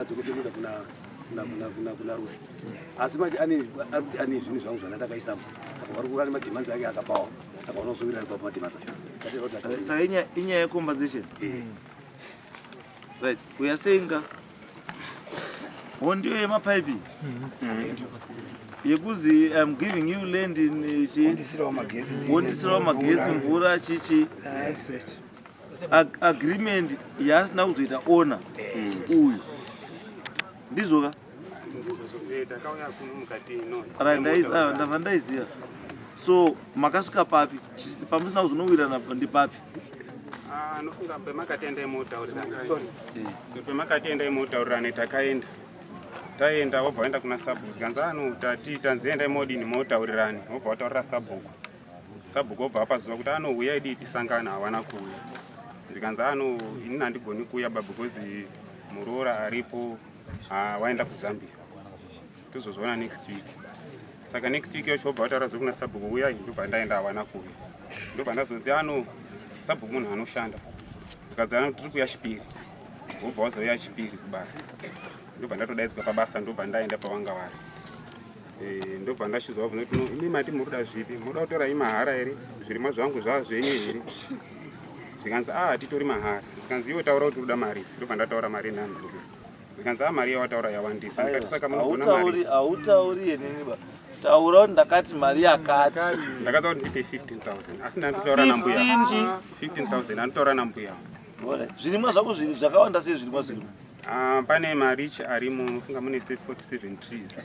dzokosekuenda kuna kuna kuna kuna kuna rusi asi manje ane arikuti ane zvinhu zvangu zvana ndakaisamo saka vari kuva nemadhimanzi ake akapawa saka vanozovirani pa madhimanzi acho sa inyaya yecompensation eh. right uya senga ho ndiyo yemapaipi mm-hmm. eh, yekuzi im giving you land in eh, chi wondisirawo magezi mvura chichi Ag agreement yaasina kuzoita ona uyu ndizvoka ndava ndaiziva so makasvika papi pamusina kuzonowirana ndipapi ah, anofunga pemakatenda imotaurirana sorry so pemakatenda imotaurirana takaenda taenda wobva waenda kuna sabhuku zvikanzi anoti ati tanzienda imodini motaurirani wobva wataurira sabhuku sabhuku obva apazuva kuti anouya idii tisangana havana kuuya zvikanzi ano inini handigoni kuuya ba because muroora aripo ah, waenda kuzambia tozozviona next week saka next week yacho obva vataura zvekuna sabhuku uya ndobva ndaenda havana kuuya ndobva ndazonzi ano sabhuku munhu anoshanda zvikanzi ano tiri kuya chipiri obva wazouya chipiri kubasa ndobva ndatodaidzwa pabasa ndobva ndaenda pavanga vari Eh, ndobva ndashizwa vabvunza kuti no imi mati muruda zvipi muruda kutorai mahara here zvirimwa zvangu zvava zvenyu here zvikanzi a ah, hatitori mahara zvikanzi iwe taura kuti uruda mari ndobva ndataura mari nani zvikanzi a ah, mari yawataura yawandisa ndikati saka munogonamari hautauri yeniniba taura kuti ndakati mari yakati ndakataura kuti ndipe 15000 asi ndanditaura nambuya 15000 anditaura nambuya zvirimwa zvako zviri zvakawanda sei zvirimwa zvirimwa ah, pane marichi arimo funga mune 47 trees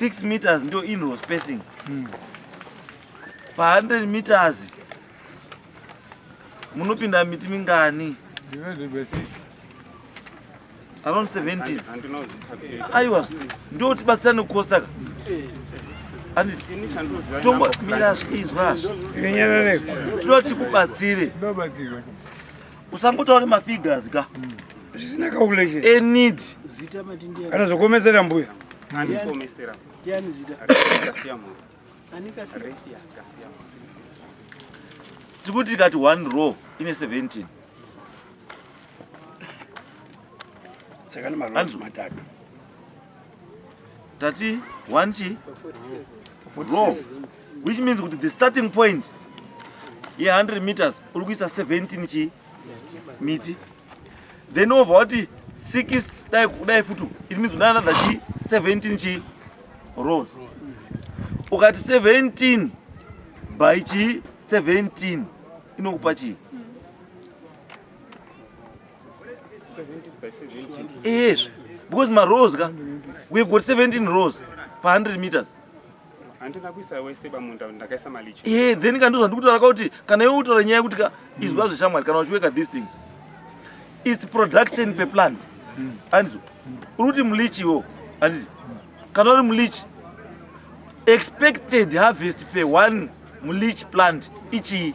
6 meters ndo inro spacing hmm. pa 100 meters munopinda miti mingani around 17 aiwa ndo tibatsira nekukosaka tongo mira izwa zvo tinoda tikubatsire usangotaure mafigures ka mm. zvisina calculation a need zita matindi kana zvokomesera mbuya ani komesera yani zita kasiya mu ani kasiya refias kasiya mu tikuti kati one row ine 17 saka ni marows matatu tati one chi raw which means kuti the starting point ye 100 meters uri kuisa 17 chi miti then over wati six dai kudai futi it means una another chi 17 chi rows ukati 17 by chi 17 inokupa chii Yes, because my rows, we've got 17 rows per 100 meters. handina kuisa wese pamunda ndakaisa malicho e eh, then kandiuza ndikutaura ka kuti kana iwe utora nyaya yekuti ka izwa hmm. zveshamwari kana uchiweka these things its production per plant hmm. andizo uri kuti mulichi iwo andizi kana uri mulichi expected harvest per one mulichi plant ichii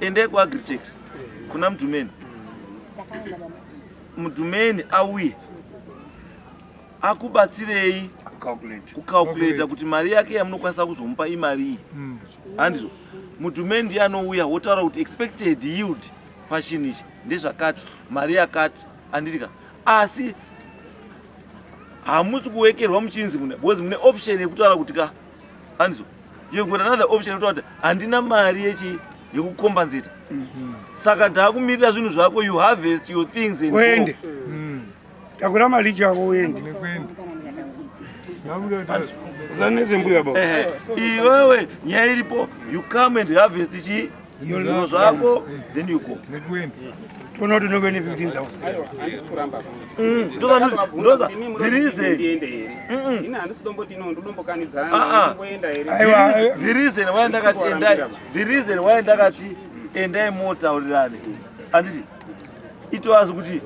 ende ku agritex kuna mdumeni mdumeni auye akubatsirei kucalculator kuti mari yake yamunokwanisa kuzomupa imari iyi hmm. handizo mm. mdumeni ndiye anouya wotaura kuti expected yield pachinhu ichi ndezvakati mari yakati anditika asi hamusi kuwekerwa muchinzi mune bcause mune option yekutaura kuti ka anzwa you've got another option yekutaura kuti handina mari yechi yekukombenzeta mhm. saka ndaakumirira zvinhu zvako you harvest your things and uende mm. takura mari chako uende zanezembuya baba iwewe nyaya iripo you come and harvest chii zvinhu zvako then you go toona kuti unenge ne 15000therizen waya ndakati endai the reason waya ndakati endai motaurirane handiti itoazi kuti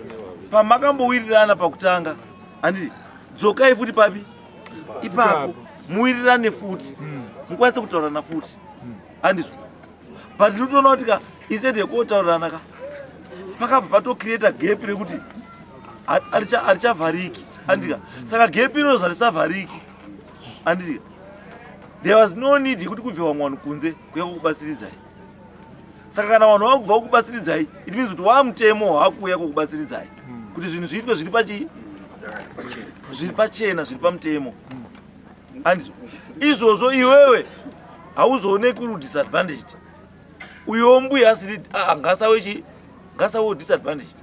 pamakambowirirana pakutanga handiti dzokai futi papi ipapo muwirirane futi mukwanise kutaurana futi andizvo but ndinotoona kuti ka instead yekotaurirana ka pakabva patocreata gap rekuti harichavhariki andika saka gap inozo harisavhariki andika there was no need yekuti kubve vamwe vanhu kunze kuya kukubatsiridzai saka kana vanhu vakubva kukubatsiridzai it means kuti wamutemo waakuuya kukubatsiridzai kuti zvinhu zviitwe zviri pachii zviri pachena zviri pamutemo hanzi izvozvo iwewe hauzoone kuri disadvantaged uyo mbuya asiri ah, ngasawe chi ngasawe disadvantaged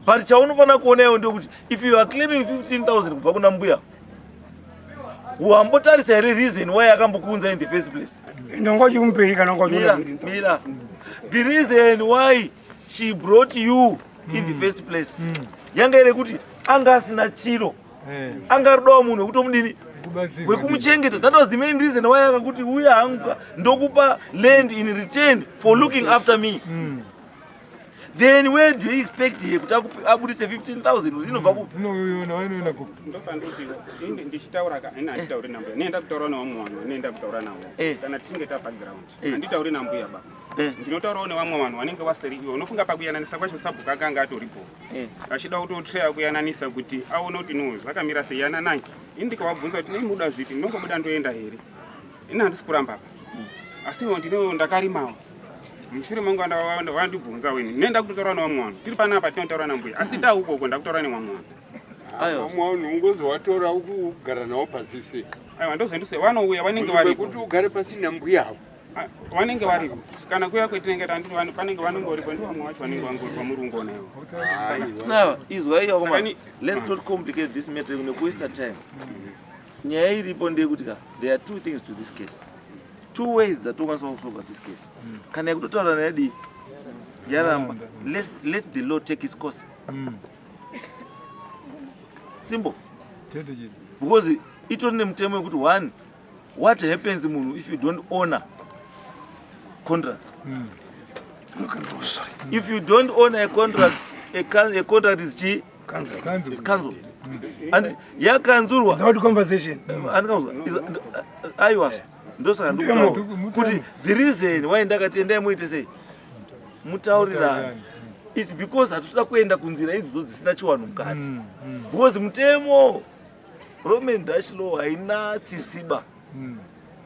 but chaunofanira kuona iwe ndokuti if you are claiming 15000 kubva kuna mbuya wambotarisa here reason why akambokuunza in the first place ndongochimupeyi kana mira mira the reason why she brought you in the mm. first place mm. yanga iri kuti anga asina chiro eh. anga rudawo munhu wekuti omudini wekumuchengeta that was the main reason why akakuti uya hangu ndokupa land in return for looking after me mm. then where do you expect here kuti abudise 15000 inobva kupi inoona kupi ndopandoti inge ndichitaura ka ina anditauri nambuya nenda kutaura nawo mwana nenda kutaura nawo eh. kana tichinge tapa ground anditauri eh. nambuya baba Eh. ndinotaurawo nevamwe vanhu vanenge vasiri ivo unofunga pakuyananisa kwacho sabhuku akanga atoripo eh. achida kutotreya kuyananisa kuti aone kuti no zvakamira sei yananai ini ndikavabvunza kuti nei muda zvipi ndinongobuda ndoenda here ini handisi kuramba apa hmm. asiwo ndino ndakarimawo mushure mangu vandibvunzawo ini nenda kutotaura nevamwe vanhu tiri panapa tinotaura nambuya asi hmm. tauko uko ndakutaura nevamwe vanhu vamwe vanhu ungozi watora ukugara navo pasise aiwa ndozvendise vanouya vanenge varikuti ugare pasi nambuya havo Ah, vanenge varipo kana kuya kwetinenge tandiri vanhu panenge vanongoripo ndi vamwe vacho vanenge vangoripo murungona ivo now izwa iyo koma let's not complicate this matter nekuwaste time nyaya iripo ndeyekuti ka there are two things to this case two ways dzatokwanisa kusolva this case mm. kana yekutotaura nayadii yaramba let the law take its course mm. simple because itori nemutemo wekuti one what happens munhu if you don't honor contract mm. if you don't honor a contract a, can, a contract is chi cancel is cancel hmm. and yakanzurwa without conversation hmm. and kanzwa is ayi was ndosaka ndikuta kuti the reason why ndakati endai muite sei mutaurirana it's because hatitoda kuenda kunzira idzo dzisina chiwanhu mukati hmm, because mutemo Roman Dash Law haina tsitsiba hmm.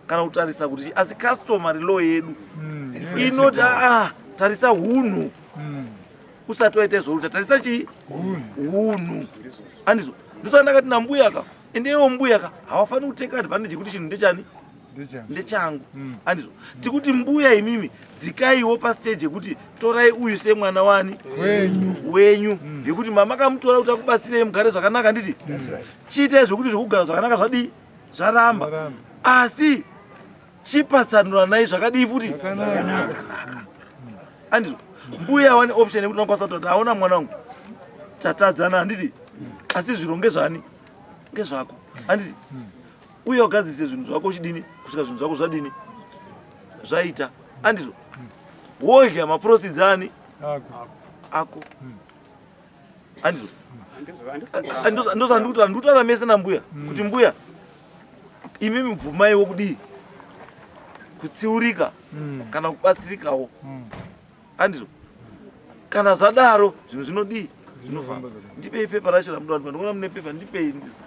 kana kutarisa kuti asi customary law yedu hmm. inoti aa tarisa hunhu hmm. usati waita izvoruta tarisa chii hunhu andizvo ndosaka ndakati nambuyaka ende iwo mbuyaka hawafaniri kuteka advantage yekuti chinhu ndechani ndechangu mm. andizvo tikuti mbuya imimi dzikaiwo pastage yekuti torai uyu semwana wani wenyu mm. yekuti mama kamutora kuti akubatsirei mugare zvakanaka nditi chiitai zvekuti zvekugara zvakanaka zvadii zvaramba asi chipatsanuranai zvakadii futi zvakanaka andizvo mbuya wani option yekuti unokwanisa kutoti aona mwana wangu tatadzana handiti asi zviro ngezvani ngezvako handiti uye wagadzise zvinhu zvako uchidini kusvika zvinhu zvako zvadini zvaita andizvo wodya maprosidi ani ako andizvo ndozvandikuti andikutaura mese nambuya hmm. kuti mbuya imi mibvumaiwo kudii kutsiurika hmm. kana kubatsirikawo hmm. andizvo kana zvadaro zvinhu zvinodii zvinofamba ndipei pepa racho ramuda ndikuona mune pepa ndipei ndizvo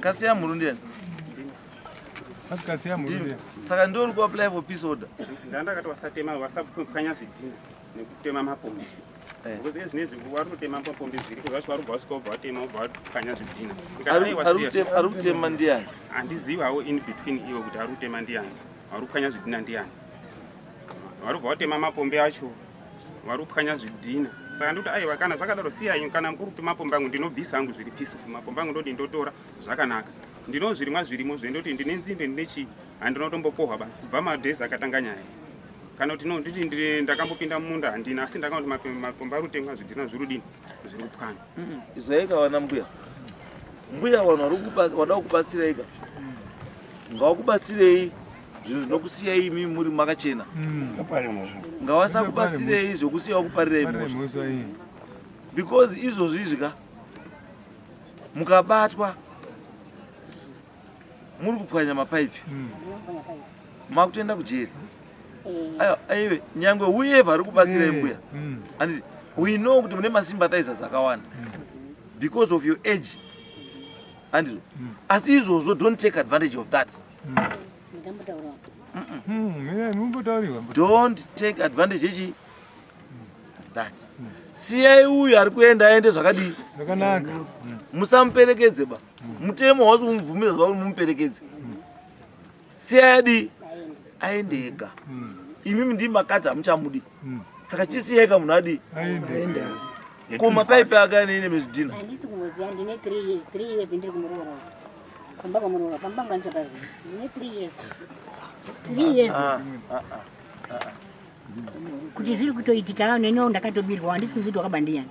kasi ya murundi yes kasi ya murundi saka ndori ku apply for peace order ndandakati wasatema wasapukanya zvidhina nekutema mapombi eh. because ezvinezvi wari kutema mapombi zviriko zvacho wari kubva sikobva watema ubva wakanya zvidhina ari kutema ndiani handizivi hawo in between ivo kuti ari kutema ndiani wari kupwanya zvidhina ndiani wari kubva watema mapombi acho wari kupwanya zvidhina saka ndikuti aiwa kana zvakadaro siyanyu kana mukuri kuti mapombi angu ndinobvisa angu zviri peaceful mapombi angu ndoti ndotora zvakanaka ndino zvirimwa zvirimo zvendoti ndine nzimbe ndine chii handinotombokohwa ba kubva madays akatanga nyaya kana kuti nonditi ndakambopinda mumunda handina asi ndakati makomba ari kutemwa zvidhina zviri kudini zviri kupwanya izvaika vana mbuya mbuya vanhu vada kukubatsiraika ngawakubatsirei zvinhu zvinokusiyai imi muri makachena hmm. ngawasakubatsirei zvokusiya wakuparirai mhosva because izvozvizvi ka mukabatwa muri kupwanya mapaipi hmm. makutoenda kujeri eh. aive nyangwe whoever ari kubatsira eh. imbuya hmm. anditi we know kuti mune masympathizers akawanda hmm. because of your age andizvo asi izvozvo don't take advantage of that don't take advantage echi that siyai uyu ari kuenda aende zvakadii musamuperekedze ba mutemo hausi kumubvumidza zvauri mumuperekedzi siyayadi aende ega hmm. imimi ndii makati hamuchamudi hmm. saka chisiyayika munhu adii ko mapaipi ake anene mezvidhina kuti zviri kutoitika neniwo ndakatobirwa handisi kuziva kuti wakabandiyani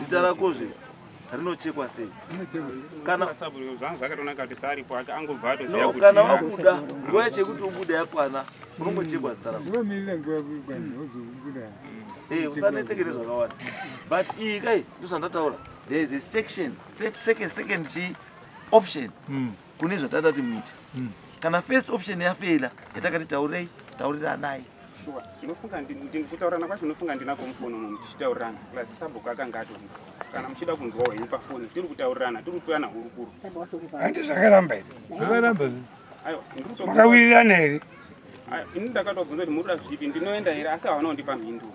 zita rako zve rinochekwa sei kana wabuda nguva yacho yekuti ubude yakwana unongochekwa zita rako eh, usanetseke nezvakawanda but iyi kai ndozvandataura there is a section second second chi option mm. kune zvatatati muite hmm. kana first option yafeila yatakati taurei tauriranai shuwa ndinofunga kutaurana kwacho ndinofunga ndinako mufoni uno muchichitaurirana plus sabhuku akanga atori kana muchida kunzwa hwenyu pafoni tiri kutaurirana tiri kutoyana hurukuru handi zvakaramba iri zvakarambamakawiriraneri Ah, ini ndakatobvunza kuti murikuda zvipi ndinoenda here asi havana kundipa mhinduro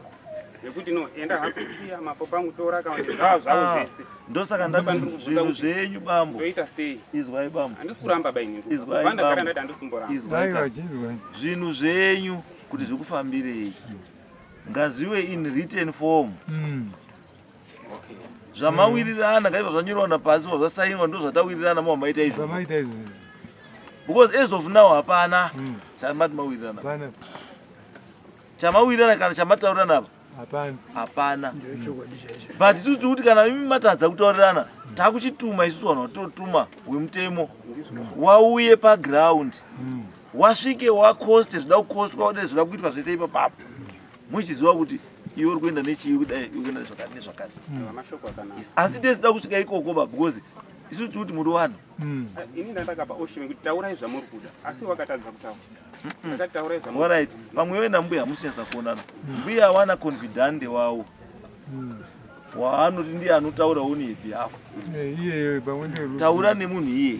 yekuti no enda hako siya mapo pangu tora kana kuti zvavo zvavo Ah, zvese ndosaka Ndipo pandiri ndati kubvunza zvinhu kuti- zvenyu bambo toita sei izwai bambo handisi kuramba ba ini Izwai, bambo. ndagara ndati handisumboramba izwai Aiwa, ka. chizwa. zvinhu zvenyu kuti zvikufambirei ngazviwe in written form Mm. zvamawirirana ngaiva zvanyorwa napasi wa zvasainwa ndo zvatawirirana mo maita izvo because as of now hapana hmm. chamati mawirirana chamawirirana kana chamataurirana apa hapana but isusu tiri kuti kana imi matadza kutaurirana takuchituma isusu vanhu vatotuma wemutemo wauye paground hmm. wasvike wakoste zvida kukostwa ode zvida kuitwa zvese ipapapo muchiziva kuti iwe uri kuenda nechii kudai uri kuenda nezvakati nezvakati hmm. asi tesida kusvika ikoko ba because isu tiri kuti muri vanhu hmm. eh, ini ndandakapa oshime kuti taurai zvamuri kuda asi wakatadza kutaura orit pamwe iwe nambuya hamusinyasa kuonana hmm. mbuya awana confidante wawo waanoti ndiye anotaura on yebehalf eh, taura nemunhu iyeye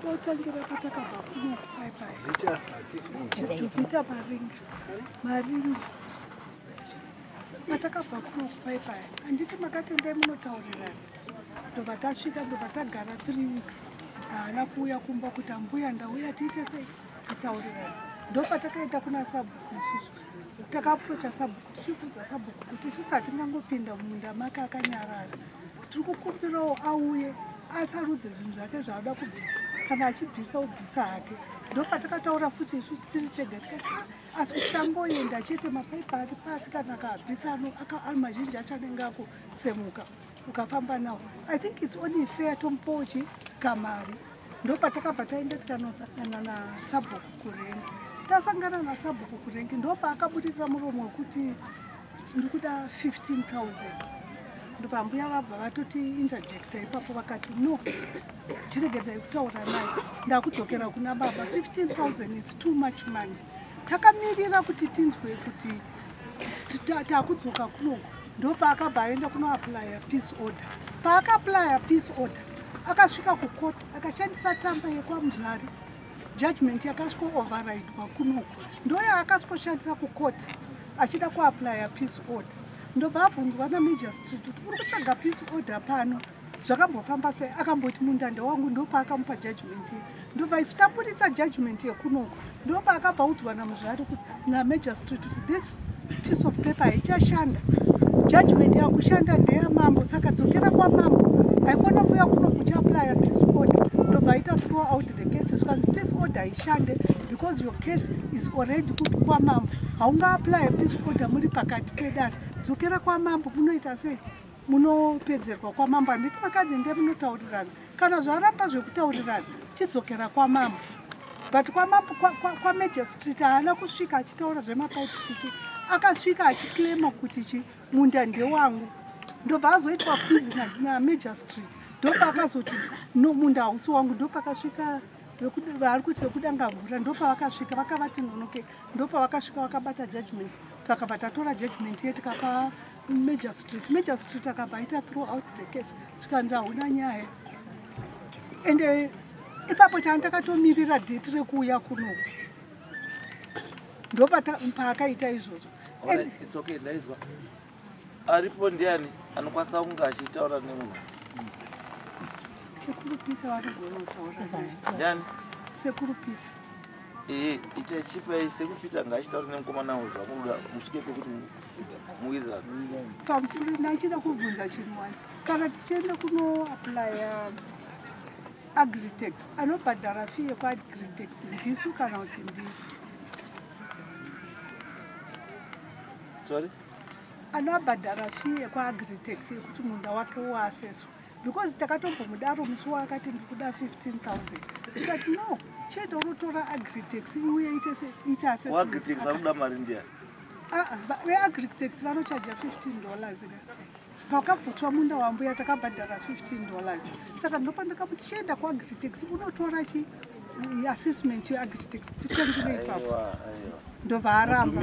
Tinotangira patakabva kuno paipazita tuvita paringa maringa patakabva kuno paipaya handiti makatendai munotaurirana ndobva tasvika ndobva tagara three weeks haana kuuya kumba kuti ambuya ndauya tiite sei titaurirana ndopatakaenda kuna sabhuku isusu takapurocha sabhuku tichibvunza sabhuku kuti isusu hatingangopinda mumunda make akanyarara tiri kukumbirawo auye asarudze zvinhu zvake zvaada kubvisa kana achibvisa ubvisa hake ndopatakataura futi isusu tiri tega tikati ah, asi kuti tangoenda chete mapaipa ari pasi kana akaabvisa ano mazhinji achanenge akutsemuka ukafamba nawo i think its only fair tompochi kamari ndopatakabva taenda tikanosangana nasabhuku kurengi tasangana nasabhuku kurengi ndopaakabudisa muromo wekuti ndikuda 15000 ndopambuya vabva vatoti interjecta ipapo vakati no tiregedzai kutaura naye ndakudzokera kuna baba 15000 its too much money takamirira kuti tinzwe kuti takudzoka kunoko ndopaakabva aenda kunoaplya peace order paakaplya peace order akasvika kukoti akashandisa tsamba yekwamuzvari judgment yakasviko overridwa kunoko ndoyaakasvikoshandisa kukoti achida kuaplya peace order ndobva abvunzwa namajor street kuti uri kutsvaga peace order pano zvakambofamba sei akamboti mundanda wangu ndopaakamupa judgment ye ndobva isu taburitsa judgment yekunoko ndopaakabva udzwa namuzvari kuti namagistrate kuti this piece of paper haichashanda judgment yakushanda ndeyamambo saka dzokera kwamambo haikona kuya kuno kuchiaplya peace order ndobva aita throw out the cases kwanzi peace order haishande because your case is already kupi kwamambo haungaaplye peace order muri pakati pedare dzokera kwamambo munoita sei munopedzerwa kwamambo handiti vakadzi ndiye munotaurirana kana zvaramba zvekutaurirana chidzokera kwamambo but kwamambo kwamagistrate haana kusvika achitaura zvemapaipi chichi akasvika achiclaima kuti chi munda ndewangu ndobva azoitwa kwizi namagistrate ndopa akazoti no munda hausi wangu ndopakasvika vaari kuti vekudanga mvura ndopavakasvika vakavati nonoke ndopavakasvika vakabata judgment takabva tatora judgment ye tikapa Magistrate, magistrate akabva aita throughout the case zvikanzi hauna nyaya and eh, ipapo chani takatomirira date rekuuya kuno ndopaakaita izvozvo aripo ndiani anokwanisa kunge achitaura nemunhu sekuru peter vanogona kutaura ndiani sekuru peter ee itai chipai sekuru peter ngaachitaura nemukomana uyu zvakuda musvike pekuti pamusoro ndaichida kubvunza chinhu wani kana tichienda kunoaplya agritex anobhadhara fi yekuagritex ndisu kana kuti ndi sorry anobhadhara fi yekuagritex yekuti munda wake uaseswa because takatombomudaro musi waakati ndikuda 15000 tikati no chete unotora agritex iuye ite ita assessment akuda mari ndiya ah, ah, veagritex vanochaja 15 dollars pakaputswa munda wambuya takabhadhara 15 dollars saka ndopandakamu tichienda kuagritex unotora chi assessment yeagritex titengire ipapo ndobva aramba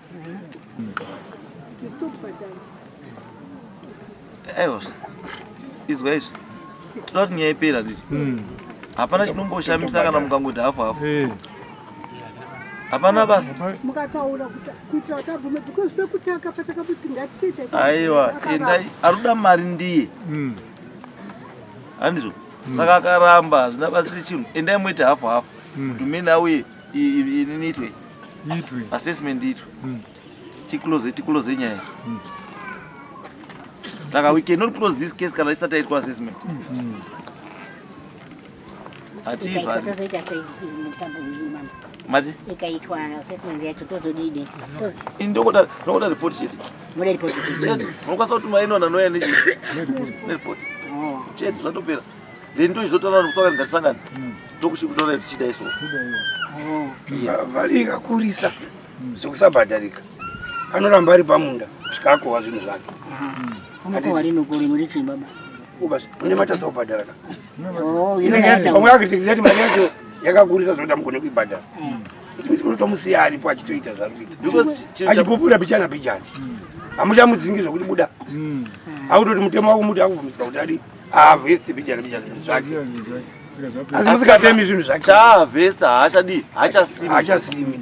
Evo, izwa izvi. Tinoda kuti nyaya ipera nditi. Hmm. Hapana chinomboshamisa kana mukangoti hafu hafu. Eh. Hapana basa. Mukataura kuitira kuti abvume because pekutanga patakabuti ngatichiita. Aiwa, endai aruda mari ndiye. Hmm. Handizvo. Hmm. Saka akaramba zvina basiri chinhu. Endai muite hafu hafu. Kuti mina uye iniitwe itwe assessment itwe hmm. ticlose ticlose nyaya hmm. saka we cannot close this case kana isati yaitwa assessment hmm. mati ndokuda report chete unokwanisa kutuma inona noya nechete oh. chete zvatopera then ndochizotaura kuti kusangana ngatisangane mm. tokushikutaura kuti chidai so valiika kurisa mm. zvekusabhadharika anoramba ari pamunda zvikakohwa zvinhu zvake une matadza kubhadhara kamwe akitekiza ti mari yacho yakakurisa zvekuti amugone kuibhadhara unotomusiya mm. aripo achitoita zvakuita achipupura pichana pichana hamuchamudzingi zvekuti buda akutoti mutemo wakumuti akubvumidzwa kuti adii Harvest bijana bijana zvinhu zvake. Asi musikatemi zvinhu zvake. Chaavesta haachadii haachasimi. Haachasimi.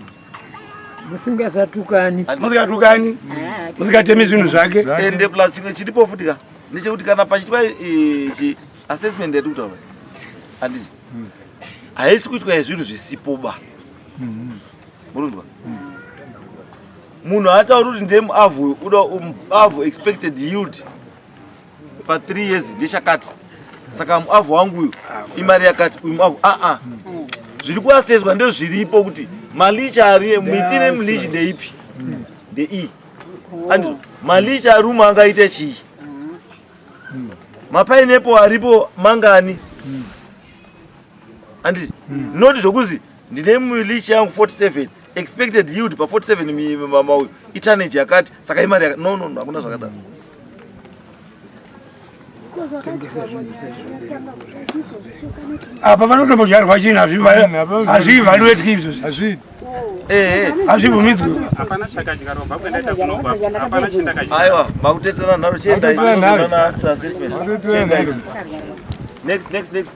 Musingasatukani. Musikatukani. Ah, Musikatemi zvinhu zvake. Ende plus chimwe chiripo futi ka. Ndechekuti kana pachitwa ichi assessment yatiri kutaura. Handiti. Hmm. Haisi kuitwa zvinhu zvisipo ba. Hmm. Murunzwa. Hmm. Munhu haatauri kuti ndemu avo uda um, avo expected yield. pa 3 years ndechakati saka muavhu wangu uyu imari yakati uyu muavhu aa ah, ah. zviri kuaseswa ndezviripo kuti malicha ari miti nemlichi ndeipi ndeiyi andizvo malicha ari umwe angaita chii mapainepo aripo mangani anditi noti zvokuzi ndine milichi yangu 47 expected yield pa 47 mama uyu itanage yakati saka imari yakati no no no hakuna zvakadaro apa vanotombodyarwa chini hazvivaluetki izvozvi hazvii hazvibvumidzwe aiwa makuteterana nharo chiendai next next next